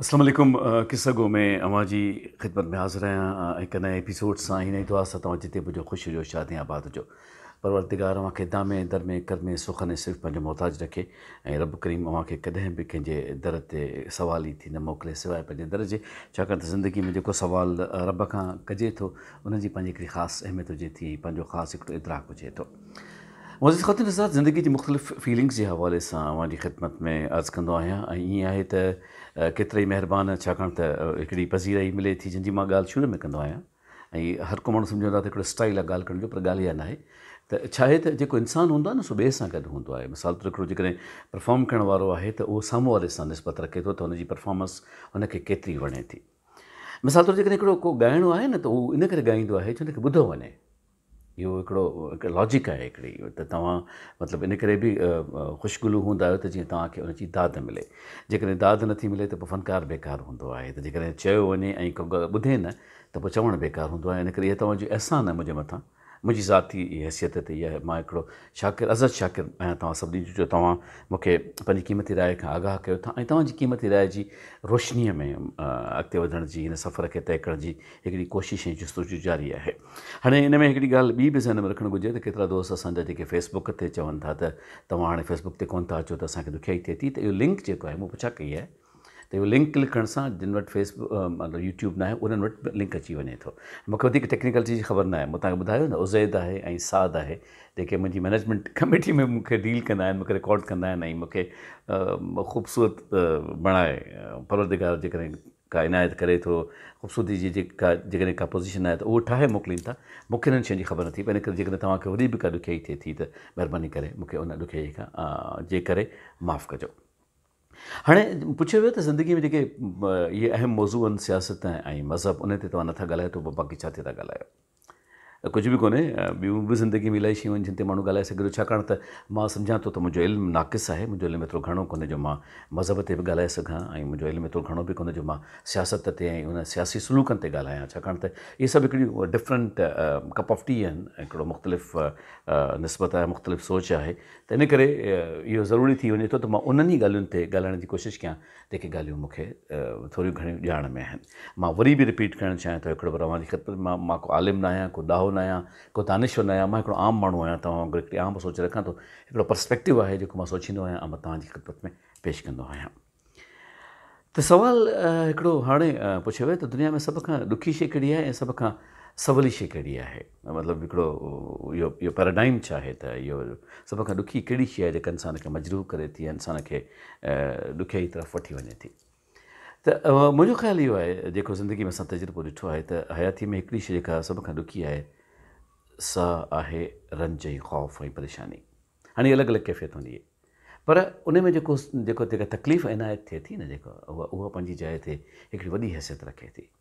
اسلام عليڪم قصه گو ۾ اوهان جي خدمت ۾ حاضر آهيان هڪ نئين ايپيسوڊ سان هي نئين دعا سان توهان جتي به هجو خوش هجو شادين آباد هجو پروردگار اوهان کي دامي در ۾ ڪرمي سخن ۽ صرف پنهنجو محتاج رکي ۽ رب ڪريم اوهان کي ڪڏهن به ڪنهن جي در تي سوال ئي ٿي نه موڪلي سواء پنهنجي در جي ڇاڪاڻ ته زندگي ۾ جيڪو سوال رب کان ڪجي ٿو ان جي پنهنجي هڪڙي خاص اهميت هجي ٿي ۽ پنهنجو خاص هڪڙو ادراڪ هجي ٿو. معزز خاتون نزار زندگي جي مختلف فيلنگز جي حوالي سان اوهان جي خدمت ۾ عرض ڪندو آهيان ۽ ائين آهي ته ڪيترائي مهربان ڇاڪاڻ ته هڪڙي پذيرائي ملي ٿي جنهن جي مان ڳالهه شروع ۾ ڪندو آهيان ۽ هر ڪو ماڻهو سمجهندو آهي ته هڪڙو اسٽائيل آهي ڳالهه ڪرڻ جو پر ڳالهه اها ناهي ته ڇا آهي ته جيڪو انسان هوندو آهي نه سو ٻئي سان گڏ هوندو آهي مثال طور هڪڙو جيڪڏهن پرفارم ڪرڻ وارو آهي ته اهو سامهون واري سان نسبت رکي ٿو ته هن جي پرفارمنس هن کي ڪيتري وڻي ٿي مثال طور جيڪڏهن هڪڙو ڪو ڳائڻو آهي نه ته اهو ان ڪري ڳائيندو آهي جو هن کي ٻڌو وڃي اهو هڪڙو هڪ لاجڪ آهي هڪڙي ته توهان مطلب ان ڪري به خوش گلو هوندا آهيو ته جيئن توهان کي ان جي داد ملي جيڪڏهن داد نه ٿي ملي ته پوء فنڪار بيڪار هوندو آهي ته جيڪڏهن چيو وڃي ۽ ڪو ٻڌي نه ته پوء چوڻ بيڪار هوندو آهي ان ڪري اهي توهان جو احسان آهي منهنجي مٿان منهنجي ذاتي حيثيت تي اهي مان هڪڙو شاڪر ازت شاڪر آهيان توهان سڀني جو جو توهان مون کي پنهنجي قيمتي راء کان آگاهه ڪيو ٿا ۽ توهان جي قيمتي راء جي روشنيء ۾ اڳتي وڌڻ جي هن سفر کي طئي ڪرڻ جي هڪڙي ڪوشش ۽ جستجو جاري آهي. هاڻي ان ۾ هڪڙي ڳالهه ٻي به ذهن ۾ رکڻ گهرجي ته ڪيترا دوست اسان جا جيڪي فيس بڪ تي چون ٿا ته توهان هاڻي فيس بڪ تي ڪونه ٿا اچو ته اسان کي ڏکيائي ٿئي ٿي ته اهو لنڪ جيڪو آهي مون پڇا ڪئي آهي ته اهو لنڪ ڪلڪ ڪرڻ سان جن وٽ فيس مطلب يوٽيوب ناهي انهن وٽ به لنڪ اچي وڃي ٿو مون کي وڌيڪ ٽيڪنيڪلٽي جي خبر ناهي مون توهان کي ٻڌايو نه عزيد آهي ۽ سعد آهي جيڪي منهنجي مينيجمينٽ ڪميٽي ۾ مون کي ڊيل ڪندا آهن مون کي رڪارڊ ڪندا آهن ۽ مون کي خوبصورت بڻائي پروردگار جيڪڏهن ڪا عنايت ڪري ٿو خوبصورتي جي جيڪا جيڪڏهن ڪا پوزيشن آهي ته اهو ٺاهي موڪلين ٿا مون کي انهن شين جي خبر نٿي پئي ان ڪري جيڪڏهن توهان کي وري به ڪا ڏکيائي ٿئي ٿي ته مهرباني ڪري مون کي ان ڏکيائي کان جي ڪري معاف ڪجو. هاڻي پڇيو ويو ته زندگي ۾ جيڪي اهي اهم موضوع آهن سياست ۽ مذهب انهن تي توهان نٿا ڳالهايو ته پوء باقي ڇا تي ٿا ڳالهايو. ڪجهه به ڪونهي ٻيون به زندگي ۾ الائي شيون آهن جن تي ماڻهو ڳالهائي سگهي ٿو ڇاڪاڻ ته مان سمجهان ٿو ته منهنجو علم ناقص آهي منهنجو علم ايترو گهڻو ڪونهي جو مان مذهب تي به ڳالهائي سگهان ۽ منهنجو علم ايترو گهڻو به ڪونهي جو مان سياست تي ۽ انهن سياسي سلوڪن تي ڳالهايان ڇاڪاڻ ته اهي سڀ هڪڙي ڊفرنٽ ڪپ آف ٽي آهن هڪڙو مختلف نسبت آهي مختلف سوچ آهي ته ان ڪري اهو ضروري ٿي وڃي ٿو ته مان انهن ئي ڳالهين تي ڳالهائڻ جي ڪوشش ڪيان جيڪي ڳالهيون مون کي ٿوريون گهڻيون ڄاڻ ۾ آهن مان وري به رپيٽ ڪرڻ چاهيان ٿو هڪڙو ڀيرو اوهان جي خدمت ۾ مان ڪو عالم نه آهيان ڪو ڏاهو نه آهيان ڪو دانشور نه آهيان مان هڪڙو عام ماڻهو آهيان توهان وانگر هڪڙي عام سوچ رکان ٿو هڪڙو پرسپيڪٽو آهي جيڪو مان سوچيندو آهيان ۽ مان توهان جي خدمت ۾ پيش ڪندو آهيان ته سوال هڪڙو هاڻي پڇيو ويو ته دنيا ۾ سڀ کان ڏکي شيء ڪهڙي آهي ۽ سڀ کان سولي شيء ڪهڙي آهي مطلب هڪڙو اهو اهو پيراڊائم ڇا آهي ته اهو سڀ کان ڏکي ڪهڙي شيء آهي جيڪا انسان کي مجروح ڪري ٿي يا انسان کي ڏکيائي طرف وٺي وڃي ٿي ته منهنجو خيال اهو آهي جيڪو زندگي ۾ اسان تجربو ڏٺو آهي ته حياتي ۾ هڪڙي شيء جيڪا سڀ کان ڏکي آهي سا آهي رنج ۽ خوف ۽ پريشاني هاڻي الڳ الڳ ڪيفيت هوندي آهي پر ان ۾ جيڪو جيڪو تڪليف عنايت ٿئي ٿي نه جيڪا اها اها پنهنجي جاء تي هڪڙي وڏي حيثيت رکي ٿي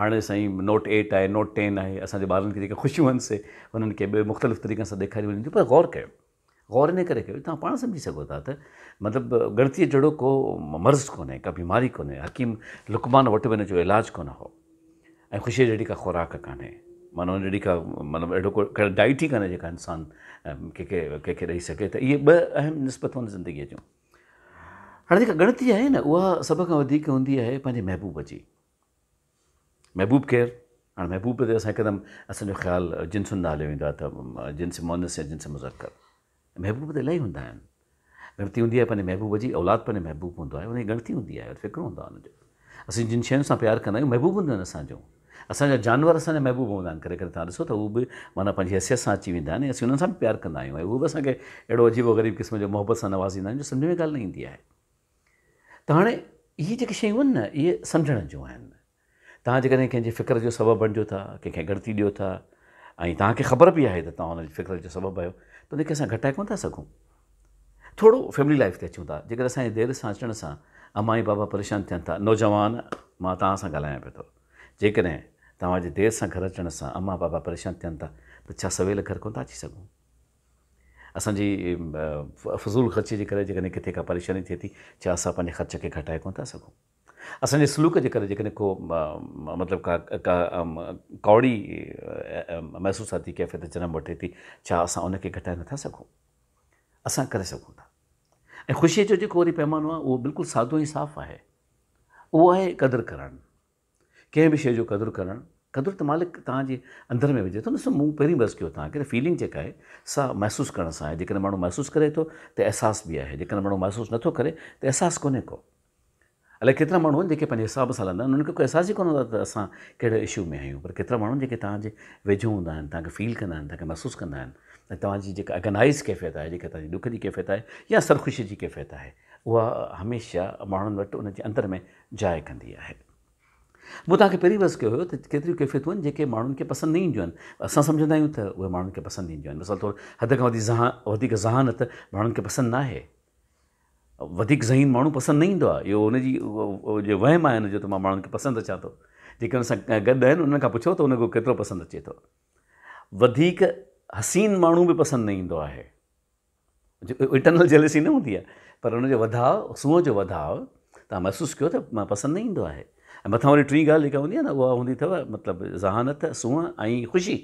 هاڻي سائين نوٽ ايٽ آهي نوٽ ٽين آهي اسان جي ٻارن کي جيڪي خوشيون آهن سي انهن کي ٻيو مختلف طريقن سان ڏيکاريون وڃن ٿيون پر غور ڪيو غور ان ڪري ڪيو توهان پاڻ سمجهي سگهو ٿا ته مطلب ڳڻتيء جهڙو ڪو مرض ڪونهي ڪا بيماري ڪونهي حڪيم لقمان وٽ به ان جو علاج ڪونه هو ۽ خوشيء جهڙي ڪا خوراڪ ڪانهي معنيٰ ان جهڙي ڪا مطلب اهڙو ڪو ڪا ڊائٽ ئي ڪانهي جيڪا انسان ڪنهن کي ڪنهن کي ڏئي سگهي ته اهي ٻه اهم نسبتون آهن زندگيء جون هاڻي جيڪا ڳڻتي آهي نه اها سڀ کان وڌيڪ هوندي آهي پنهنجي محبوب جي محبوب ڪير؟ هاڻ محبوب تي اسان هڪدم اسان جو خيال جنسن نالي ويندو آهي ته جنس مؤنث يا جنس مذڪر. محبوب ته الائي هوندا آهن. ڳڻتي هوندي آهي پنهنجي محبوب جي، اولاد پنهنجو محبوب هوندو آهي، ان جي ڳڻتي هوندي آهي، فڪر هوندو آهي ان جو. اسين جن شين سان پيار ڪندا آهيون محبوب هونديون آهن اسان جون. اسان جا جانور اسان جا محبوب هوندا آهن، ڪڏهن ڪڏهن توهان ڏسو ته هو به معنيٰ پنهنجي حيثيت سان اچي ويندا آهن ۽ اسين انهن سان به پيار ڪندا آهيون ۽ اهي به اسان کي اهڙو عجيب و غريب قسم جو محبت سان نوازيندا آهن جو سمجهه ۾ ڳالهه نه ايندي آهي. ته هاڻي اهي جيڪي شيون آهن نه اهي سمجهڻ جون آهن. توهان جيڪڏهن ڪنهن جي فڪر جو سبب بڻجو ٿا، ڪنهن کي ڳڻتي ڏيو ٿا ۽ توهان کي خبر به آهي ته توهان ان جي فڪر جو سبب آهيو ته ان کي اسان گهٽائي ڪونه ٿا سگهون. ٿورو فيملي لائيف تي اچون ٿا، جيڪڏهن اسان جي دير سان اچڻ سان اما ۽ بابا پريشان ٿين ٿا، نوجوان مان توهان سان ڳالهايان پيو ٿو، جيڪڏهن توهان جي دير سان گهر اچڻ سان اما بابا پريشان ٿين ٿا ته ڇا سويل گهر ڪونه ٿا اچي سگهون؟ اسان جي فضول خرچي جي ڪري جيڪڏهن ڪٿي ڪا پريشاني ٿئي ٿي، ڇا اسان پنهنجي خرچ کي گهٽائي ڪونه ٿا سگهون؟ اسان جي سلوڪ جي ڪري جيڪڏهن ڪو مطلب ڪا ڪا ڪاوڙي محسوساتي ڪيفيت جنم وٺي ٿي، ڇا اسان ان کي گهٽائي نٿا سگهون؟ اسان ڪري سگهون ٿا. ۽ خوشيء جو جيڪو وري پيمانو آهي، اهو بلڪل سادو ۽ صاف آهي. اهو آهي قدر ڪرڻ. ڪنهن به شيء جو قدر ڪرڻ، قدر ته مالڪ توهان جي اندر ۾ وجهي ٿو نه، مون پهرين به عرض ڪيو توهان کي فيلنگ جيڪا آهي سا محسوس ڪرڻ سان آهي، جيڪڏهن ماڻهو محسوس ڪري ٿو ته احساس به آهي، جيڪڏهن ماڻهو محسوس نه ٿو ڪري ته احساس ڪونهي ڪو. الائي ڪيترا ماڻهو آهن جيڪي پنهنجي حساب سان هلندا آهن، انهن کي ڪو احساس ئي ڪونه هوندو آهي ته اسان ڪهڙي اشو ۾ آهيون، پر ڪيترا ماڻهو آهن جيڪي توهان جي ويجهو هوندا آهن، توهان کي فيل ڪندا آهن، توهان کي محسوس ڪندا آهن ۽ توهان جي جيڪا اگنائيز ڪيفيت آهي، جيڪا توهان جي ڏک جي ڪيفيت آهي يا سرخوشي جي ڪيفيت آهي، اها هميشه ماڻهن وٽ ان جي اندر ۾ جاء ڪندي آهي. مون توهان کي پهرين به عرض ڪيو هيو ته ڪيتريون ڪيفيتون آهن جيڪي ماڻهن کي پسند نه اينديون آهن پر اسان سمجهندا آهيون ته اهي ماڻهن کي پسند اينديون آهن مثال طور حد کان وڌيڪ ذهانت ماڻهن کي پسند ناهي. وڌيڪ ذهين ماڻهو پسند نه ايندو آهي اهو ان جي جو وهم آهي ان جو ته مان ماڻهن کي پسند اچان ٿو. جيڪي ان سان گڏ آهن انهن کان پڇو ته انهن کي اهو ڪيترو پسند اچي ٿو. وڌيڪ حسين ماڻهو به پسند نه ايندو آهي. جيڪو انٽرنل جيلسي نه هوندي آهي پر ان جو وڌاء سونهن جو وڌاء تان محسوس ڪيو ته پسند نه ايندو آهي ۽ مٿان وري ٽين ڳالهه جيڪا هوندي آهي نه اها هوندي اٿو مطلب ذهانت سونهن ۽ خوشي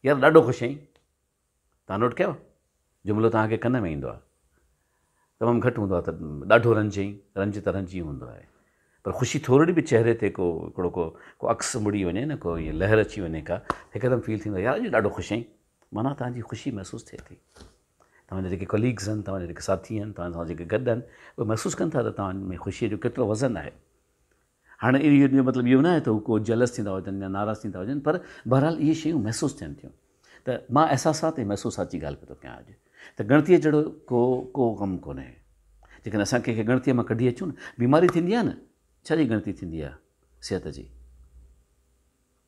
يار ڏاڍو خوش آهين تان نوٽ ڪيو جملو تان کي ڪن ۾ ايندو آهي تمام گهٽ هوندو آهي ته ڏاڍو رنج ايئن رنج ته رنج ئي هوندو آهي پر خوشي ٿورڙي به چهري تي ڪو هڪڙو ڪو ڪو عڪس مڙي وڃي نه ڪو لهر اچي وڃي ڪا هڪدم فيل ٿيندو آهي يار اڄ ڏاڍو خوش آهين معنيٰ توهان جي خوشي محسوس ٿئي ٿي. توهان جا جيڪي ڪليگز آهن، توهان جا جيڪي ساٿي آهن، توهان سان جيڪي گڏ آهن، اهي محسوس ڪن ٿا ته توهان ۾ خوشيء جو ڪيترو وزن آهي. هاڻي ان جو مطلب اهو ناهي ته هو ڪو جيلس ٿيندا هجن يا ناراض ٿيندا هجن پر بهرحال اهي شيون محسوس ٿين ٿيون ته مان احساسات ۽ محسوسات جي ڳالهه پيو ٿو ڪيان اڄ ته ڳڻتيء جهڙو ڪو ڪو ڪم ڪونهي. جيڪڏهن اسان ڪنهن کي ڳڻتيء مان ڪڍي اچون نه بيماري ٿيندي آهي نه ڇا جي ڳڻتي ٿيندي آهي صحت جي.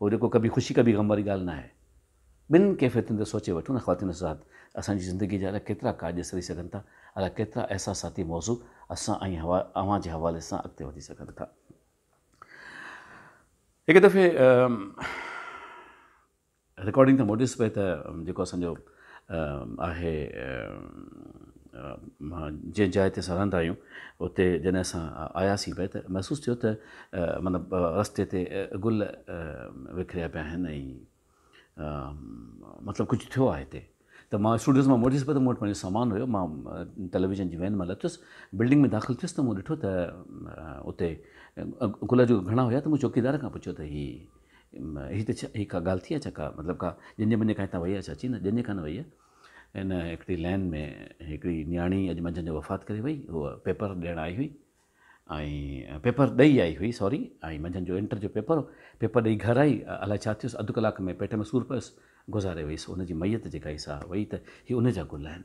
اهو جيڪو ڪڀي خوشي ڪڀي غم واري ڳالهه ناهي. ٻن ڪيفيتن تي سوچي وٺون نه خواتين حضرات، اسان جي زندگيء جا الاء ڪيترا ڪاڄ سري سگهن ٿا، الاء ڪيترا احساساتي موضوع اسان ۽ اوهان جي حوالي سان اڳتي وڌي سگهن ٿا. هڪ دفعي رڪارڊنگ تان موٽيس پئي ته جيڪو اسان جو. آهي جنهن جاء تي اسان رهندا آهيون اتي جڏهن اسان آياسين پئي ته محسوس ٿيو ته مطلب رستي تي گل وکريا پيا آهن ۽ مطلب ڪجهه ٿيو آهي هتي ته مان اسٽوڊيوز مان موٽيس پئي ته مون وٽ پنهنجو سامان هيو مان ٽيليويزن جي وين مان لٿس بلڊنگ ۾ داخل ٿيس ته مون ڏٺو ته اتي گل جو گهڻا هيا ته مون چوڪيدار کان پڇيو ته هي هي ته ڇا هي ڪا ڳالهه ٿي ڇا ڪا مطلب ڪا ڄڃ بڃ ڪانهي تان وئي آهي ڇا چي نه ڄڃ ڪانه وئي آهي هن هڪڙي لين ۾ هڪڙي نياڻي اڄ منجهند جو وفات ڪري وئي هوء پيپر ڏيڻ آئي هئي ۽ پيپر ڏئي آئي هئي سوري ۽ منجهند جو انٽر جو پيپر هو پيپر ڏئي گهر آئي الاء ڇا ٿيس اڌ ڪلاڪ ۾ پيٽ ۾ سور پيس گذاري وئيس هن جي ميت جيڪا هي سا وئي ته هي ان جا گل آهن.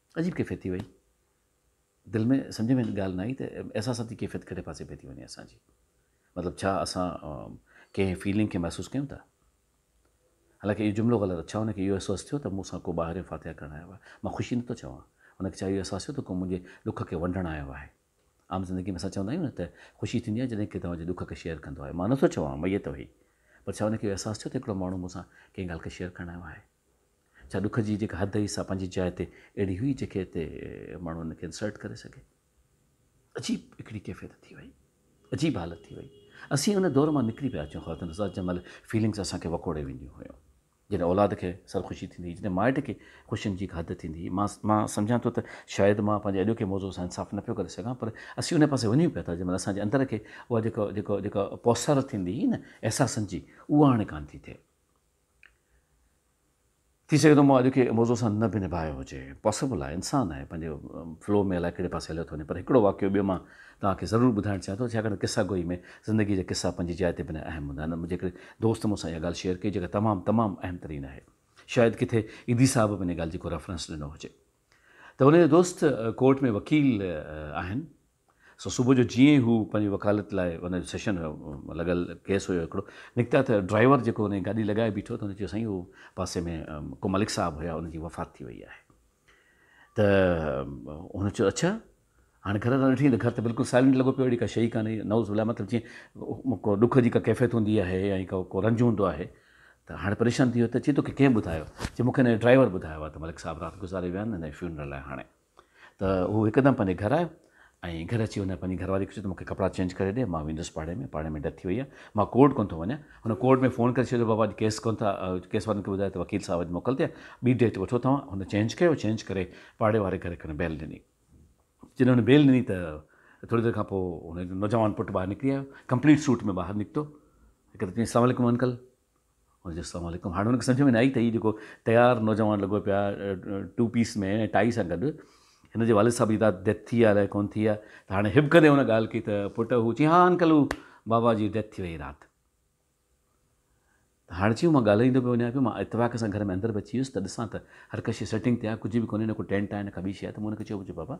عجيب ڪيفيت ٿي وئي. دل ۾ سمجهه ۾ ڳالهه نه آئي ته احساساتي ڪيفيت ڪهڙي پاسي پئي ٿي وڃي اسان جي. مطلب ڇا اسان ڪنهن فيلنگ کي محسوس ڪيون ٿا؟ حالانڪه اهو جملو غلط ڇا ان کي اهو احساس ٿيو ته مون سان ڪو ٻاهريون فاتحه ڪرڻ آيو آهي؟ مان خوشي نه ٿو چوان. ان کي ڇا اهو احساس ٿيو ته ڪو منهنجي ڏک کي ونڊڻ آيو آهي؟ عام زندگي ۾ اسان چوندا آهيون نه ته خوشي ٿيندي آهي جڏهن ڪي توهان جي ڏک کي شيئر ڪندو آهي. مان نه ٿو چوان ميت وهي پر ڇا ان کي اهو احساس ٿيو ته هڪڙو ماڻهو مون سان ڪنهن ڳالهه کي شيئر ڪرڻ آيو آهي؟ ڇا ڏک جي جيڪا حد هئي سا پنهنجي جاء تي اهڙي هئي جيڪي هتي ماڻهو ان کي انسرٽ ڪري سگهي. عجيب هڪڙي ڪيفيت ٿي وئي. عجيب حالت ٿي وئي. اسين ان دور مان نڪري پيا اچون خواتين حضرات جنهن مهل فيلنگس اسان کي وڪوڙي وينديون هيون. جڏهن اولاد کي سرخوشي ٿيندي هئي جڏهن مائٽ کي خوشين جي هڪ حد ٿيندي هئي. مان مان سمجهان ٿو ته شايد مان پنهنجي اڄوڪي موضوع سان انصاف نه پيو ڪري سگهان پر اسين ان پاسي وڃون پيا ٿا جنهن مهل اسان جي اندر کي اها جيڪا جيڪا جيڪا پوسر ٿيندي هئي نه احساسن جي اها هاڻي ڪانه ٿي ٿئي. ٿي سگهي ٿو مون اڄ کي موضوع سان نه به نڀايو هجي پاسبل آهي انسان آهي پنهنجي فلو ۾ الائي ڪهڙي پاسي هليو ٿو وڃي پر هڪڙو واقعو ٻيو مان توهان کي ضرور ٻڌائڻ چاهيان ٿو ڇاڪاڻ ته قصا گوئي ۾ زندگي جا قصا پنهنجي جاء تي بنهه اهم هوندا آهن منهنجي هڪڙي دوست مون سان اها ڳالهه شيئر ڪئي جيڪا تمام تمام اهم ترين آهي شايد ڪٿي ايڌي صاحب به ان ڳالهه جي ڪو ريفرنس ڏنو هجي ته هن جو دوست ڪورٽ ۾ وڪيل آهن سو صبح جو جيئن ئي هو پنهنجي وڪالت لاء ان جو سيشن لڳل ڪيس هيو هڪڙو نڪتا ته ڊرائيور جيڪو هن جي گاڏي لڳائي بيٺو ته هن چيو سائين هو پاسي ۾ ڪو ملڪ صاحب هيا انهن جي وفات ٿي وئي آهي ته هن چيو اڇا هاڻي گهر ڏانهن ڏٺي ته گهر ته بلڪل سائلنٽ لڳو پيو اهڙي ڪا شي ئي ڪانهي نعوذ بالله مطلب جيئن ڪو ڏک جي ڪا ڪيفيت هوندي آهي يا ائين ڪو رنج هوندو آهي ته هاڻي پريشان ٿي ويو ته چي توکي ڪنهن ٻڌايو چي مونکي هن جي ڊرائيور ٻڌايو آهي ته ملڪ صاحب رات گذاري ويا آهن هن جي فيونرل آهي هاڻي ته هو هڪدم پنهنجي گهر آيو ۽ گهر اچي هن پنهنجي گهرواري کي چيو ته مون کي ڪپڙا چينج ڪري ڏي مان ويندس پاڙي ۾ پاڙي ۾ ڊيٿ ٿي وئي آهي مان ڪورٽ ڪونه ٿو وڃان هن ڪورٽ ۾ فون ڪري ڇڏيو بابا اڄ ڪيس ڪونه ٿا ڪيس وارن کي ٻڌايو ته وڪيل صاحب اڄ موڪل تي آهي ٻي ڊيٿ وٺو توهان هن چينج ڪيو چينج ڪري پاڙي واري گهر کي هن بيل ڏني جڏهن هن بيل ڏني ته ٿوري دير کان پوء هن نوجوان پٽ ٻاهر نڪري آيو ڪمپليٽ سوٽ ۾ ٻاهر نڪتو هڪ ته چيائين السلام عليڪم انڪل هن چيو السلام عليڪم هاڻ هن کي سمجهه ۾ نه آئي ته هي جيڪو تيار نوجوان لڳو پيو آهي ٽو پيس ۾ ۽ ٽائي سان گڏ هن جي والد صاحب جي رات ڊيٿ ٿي آهي الائي ڪونه ٿي آهي ته هاڻي هٻڪندي هن ڳالهه ڪئي ته پٽ هو چيائين ها انڪل هو بابا جي ڊيٿ ٿي وئي رات هاڻ چيو مان ڳالهائيندو پيو وڃان پيو مان اتفاق سان گهر ۾ اندر به اچي ويس ته ڏسان ته هر ڪا شيء سيٽنگ تي آهي ڪجهه به ڪونهي نه ڪو ٽينٽ آهي نه ڪا ٻي شيء آهي ته مون هن کي چيو بابا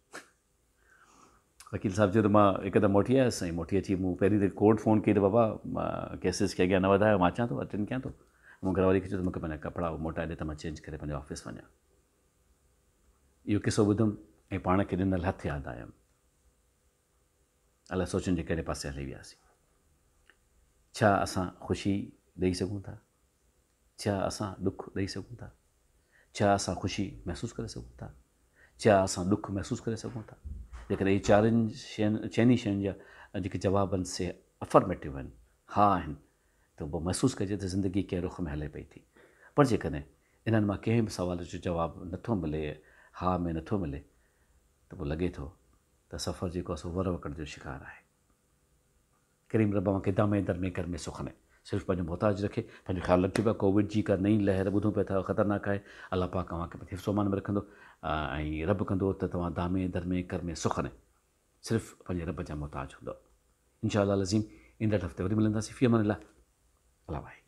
وڪيل صاحب چيو ته مان هڪدم موٽي آيس ۽ موٽي اچي مون پهرين ته ڪورٽ فون ڪئي ته بابا ڪيسز کي اڳيان نه وڌايو مان اچان ٿو اٽينڊ ڪيان ٿو مون گهر واري کي چيو ته مونکي پنهنجا ڪپڙا موٽائي ڏي ته مان چينج ڪري پنهنجي آفيس وڃان اهو قصو ٻڌم ۽ پاڻ کي ڏنل هٿ ياد آيم الاء سوچن جي ڪهڙي پاسي هلي وياسين ڇا اسان خوشي ڏيئي سگهون ٿا ڇا اسان ڏک ڏئي سگهون ٿا؟ ڇا اسان خوشي محسوس ڪري سگهون ٿا؟ ڇا اسان ڏک محسوس ڪري سگهون ٿا؟ جيڪڏهن اهي چارين شين چئن ئي شين جا جيڪي جواب آهن سي افرميٽو آهن، ها آهن، ته پوء محسوس ڪجي ته زندگي ڪنهن رخ ۾ هلي پئي ٿي. پر جيڪڏهن انهن مان ڪنهن به سوال جو جواب نٿو ملي، ها ۾ نٿو ملي، ته پوء لڳي ٿو ته سفر جيڪو آهي سو ور وڪڙ جو شڪار آهي. ڪريم رب اوهان کي دامين در ۾ گرمي سخني صرف پنهنجو محتاج رکي پنهنجو خيال رکجو پيا ڪووڊ جي ڪا نئين لهر ٻڌون پيا ٿا خطرناڪ آهي الله پاڪ اوهان کي حفظ و امان ۾ رکندو ۽ رب ڪندو ته توهان دامين در ۾ گرمي سخني صرف پنهنجي رب جا محتاج هوندو انشاء الله العظيم ايندڙ هفتي وري ملنداسين في امان الله الله واحد